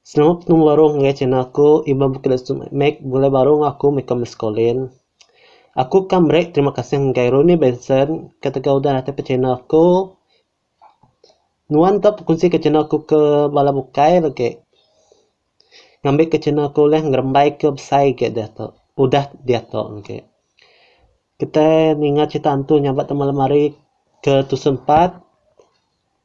Selamat betemu baruh ngagai channel aku Iban Bukit Lesu Mac bulai baruh enggau aku meh ka Muscolin. Aku ka meri terima kasih ngagai Ronnie Benson ketegal udah natap ka channel aku. Nuan ka bekunsi ka channel aku ke bala bukai agi lagi ngambi ka channel aku ulih ngerembai ke besai agi diatu udah diatu agi. Kitai ninga crita hantu nyabak taman lemari ke tusun empat.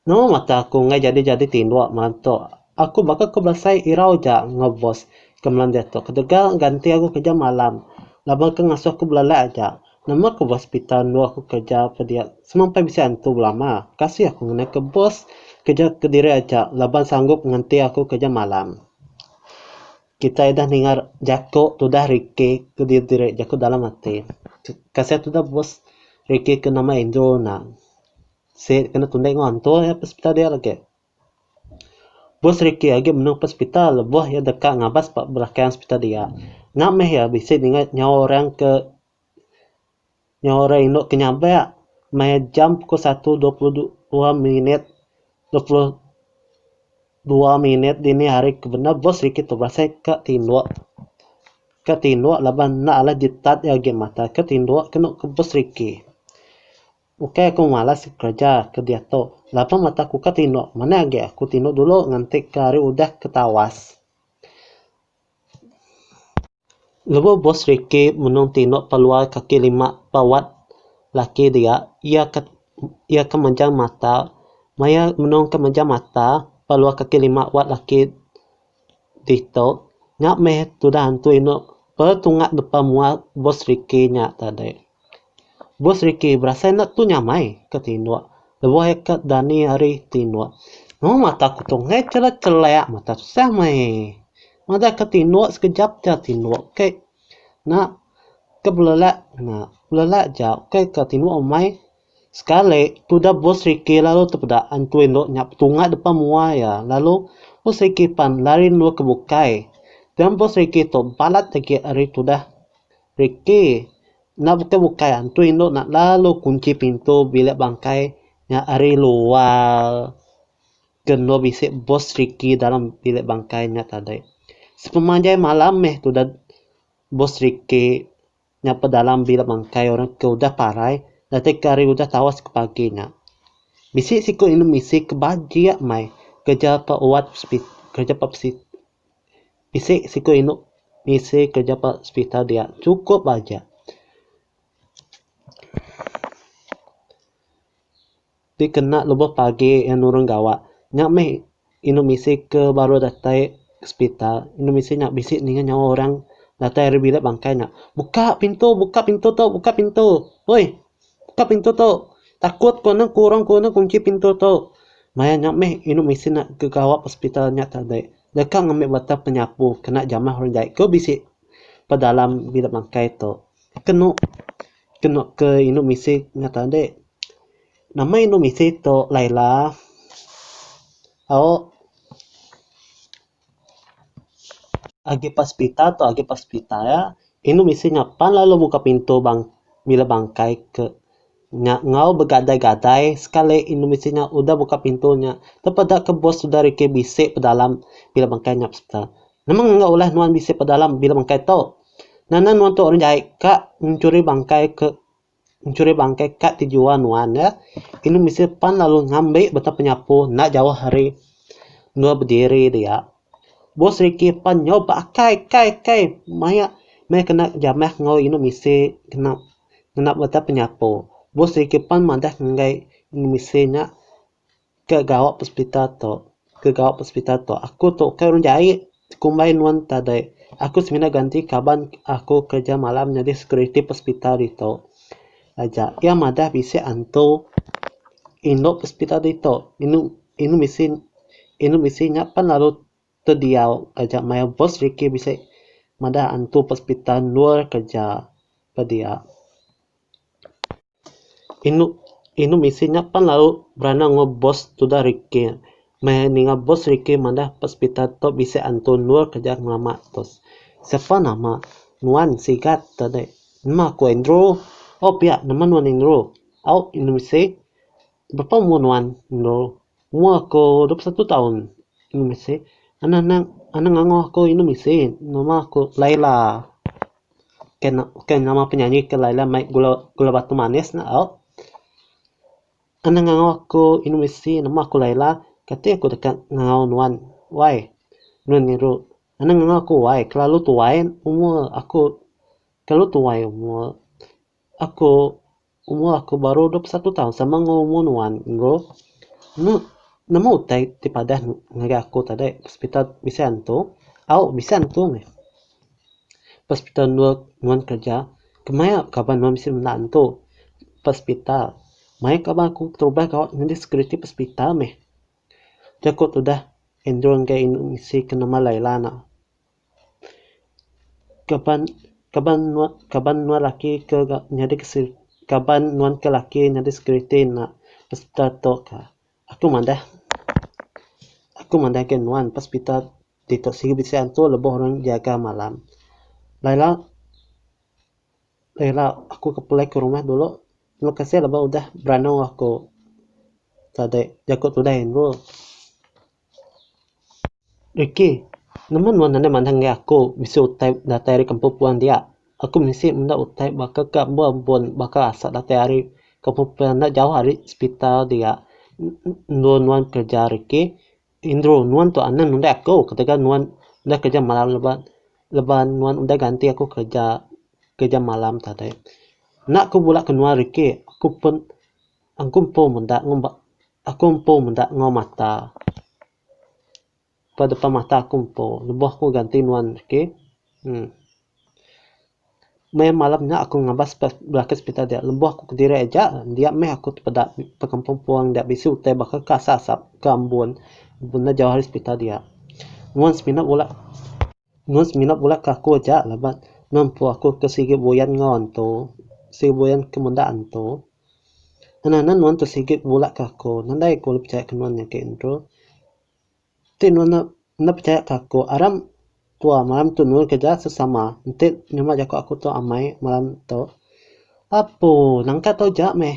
Nama mata aku enggai jadi-jadi tinduk malam tu. Aku baka ke belasai irau aja enggau bos ke malam diatu ketegal ganti aku kerja malam laban ke ngasuh aku belalai aja. Nama ke bos pita endu aku kerja pediak semampai bisi antu belama. Kasih aku ngenai ke bos kerja kediri aja laban sanggup nganti aku kerja malam. Kitai udah ninga jaku tudah Ricky ke diri jaku dalam ati. Kasih tudah bos Ricky ke nama Andrew ena. Sik ke enda tundah ingoh entur iya pesepital dia lagi. Bus Ricky agi menung pesepital lebuh iya deka ngabas ba belakang sepital dia. Nya meh iya bisi ninga nyawa orang ke nyawa orang indu ke nyabak meh jam pukul satu dua puluh dua minit dua puluh dua minit dini hari ke bendar bus Ricky tu berasai ka tinduk. Ka tinduk laban enda alai ditat iya agi mata ka tinduk ke enu ke bus Ricky. Ukai aku malas kereja ke diatu, laban mata aku ka tinduk, manah agi aku tinduk dulu nganti ke hari udah ke tawas. Lebuh Bos Ricky menung tinduk pa luar kaki lima pa wad laki dia, iya ka iya ka manjang mata, maya menung ka manjang mata pa luar kaki lima wad laki Ditu nya meh tudah antu inu petunga depa mua bos Ricky nya tadi. Bos Ricky berasai enda tu nyamai ke tinu lebuh iya ke dani ari tinu. Mung mata ku tu enggai chelek chelek mata tusah meh. Madah ke tinu sekejap ja tinu ke na ke belelak na belelak ja ukai ke tinu umai Sekali, tudah bos Ricky lalu tepeda antui endur nya petunga depan mua iya lalu bos Ricky pan lari endur ke bukai. Pian bos Ricky tu balat agi ari tudah Ricky. Enda bukai bukai antui endur nya lalu kunchi pintu bilik bangkai nya ari luar ke endur bisi bos Ricky dalam bilik bangkai nya tadi. Sepemanjai malam meh tudah bos Ricky. nya pedalam bila bangkai orang ke udah parai ndateka hari udah tawas ke pagi nya. Bisi siku indu misi ke bajik meh kereja pa wad hospital kereja pa hospital. Bisi siku indu misi kereja pa hospital dia chukup bajik. dikena lebuh pagi iya nurun gawa. Nya meh indu misi ke baru datai sepital, indu misi nya bisi ninga nyawa orang datai ari bilik bangkai nya, buka pintu, buka pintu tu, buka pintu. Uih, buka pintu tu. Takut ku ne, ku orang ku ne kunchi pintu tu. Maya nya meh indu misi ne ke gawa ba sepital nya tadi deka ngambi batang penyapu kena jamah orang jai ke bisi ba dalam bilik bangkai tu. Kenu. Ke nok ke indu misi nyat adi. Nama indu misi to Laila? Aok agi ba sepitar to agi ba sepitar ya. Indu misi nya pan lalu muka pintu bang bilik bangkai ke nya enggau begadai gadai sekali indu misi nya udah muka pintu nya tepeda ke bos udah rikih bisi pedalam bilik bangkai nya. Nemang enggau ulah nuan bisi pedalam bila bangkai tu. Nana nuan tu orang jai ka nchuri bangkai ke nchuri bangkai ka ti jua nuan ya. Inu bisi pan lalu ngambi beta penyapu enda jauh ari endur bediri dia. Bos riki pan nyau ba akai kai kai maya maya kena jamah enggau inu bisi kena ngena beta penyapu. Bos riki pan madah ngagai inu bisi nya. Ke gawa pesepita tu, ke gawa pesepita tu aku tu ukai orang jai kumbai nuan tadai. Aku semina ganti kaban aku kereja malam nyadi security pesepita ditu aja. Iya madah bisi antu indu pesepita ditu inu inu bisi inu bisi nya pan lalu tediau aja maioh bos rikih bisi madah antu pesepita endur kereja pediak. Inu inu misi nya pan lalu berana enggau bos tudah rikih. Meh ninga bos rikih madah ba sepital tu bisi antu endur ke aja ngelama tu. Sepa nama nuan sigat te dei. Nama ku Andrew. Oh pia nama nuan Andrew. Au inu misi. Bapa umur nuan endur umur aku dua puluh satu taun inu bisi anak anak anak angoh aku inu bisi nama aku laila ke nama penyanyi ke laila mai gula batu manis nya au anak angoh aku inu bisi nama aku laila kati aku deka ngau nuan wai nuan ngeru anak angoh aku wai kelalu tuai umur aku kelalu tuai umur aku. Umur aku baru dua puluh satu taun sama enggau umur nuan Andrew. Enu nemu utai ti padah ngagai aku tadi hospital bisi antu au bisi antu meh. Hospital endur nuan kerja kemaya nuan kaban bisi menda antu hospital. Mayuh kaban aku berubah gawa nyadi security hospital meh. Aku tudah Andrew ngagai inu bisi ke nama Laila nek. Kaban kaban nuan kaban nuan laki ke ga nyadi ke se kaban nuan ke laki nyadi security enda hospital tu ka. Aku madah aku madah ke nuan pa hospital ditu sibu bisi antu lebuh orang nyaga malam. Lai ira lai ira aku ke pulai ke rumah dulu. Terima kasih laban udah beranu aku tadi jaku tudai andu. Ricky, nama nuan nadai mandang inggau aku bisi utai datai ari kampung puan dia? Aku bisi menda utai baka ke ambo ambun baka asal datai ari kampung puan enda jauh ari sepital dia. Endur nuan kerja Ricky, endur nuan tu anang nundai aku ketegal nuan udah kerja malam leban leban nuan udah ganti aku kerja kerja malam tadi. Enda aku bula ke nuan Ricky, aku pun Aku empu meda ngumba aku empu meda enggau mata ba depan mata aku empu lebuh aku ganti nuan reti uhh meh malam nya aku ngabas ba belaka hospital dia lebuh aku kediri aja dia meh aku tepeda bekampung puang dia bisi utai baka ke asap asap ke ambun benda jauh ari hospital dia nuan semina bula. Nuan semina bula ke aku aja laban nuan empu aku ke sigi buyan enggau antu, sigi buyan ke menda antu. Ngena nen nuan tu sigi bula ke aku, nadai aku ulih pechaya ke nuan agi ntu. Ti nuan enda enda pechaya ke aku aram tua maram tu nurun ke ja sesama enti nyama jaku aku tu amai maram tu. Apu nangka tau ja meh.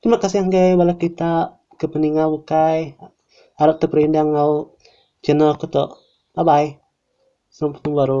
Terima kasih enggai bala kita ke peninga ukai arap ti perindang enggau channel aku tu. Bye bye. Sampai betemu baru.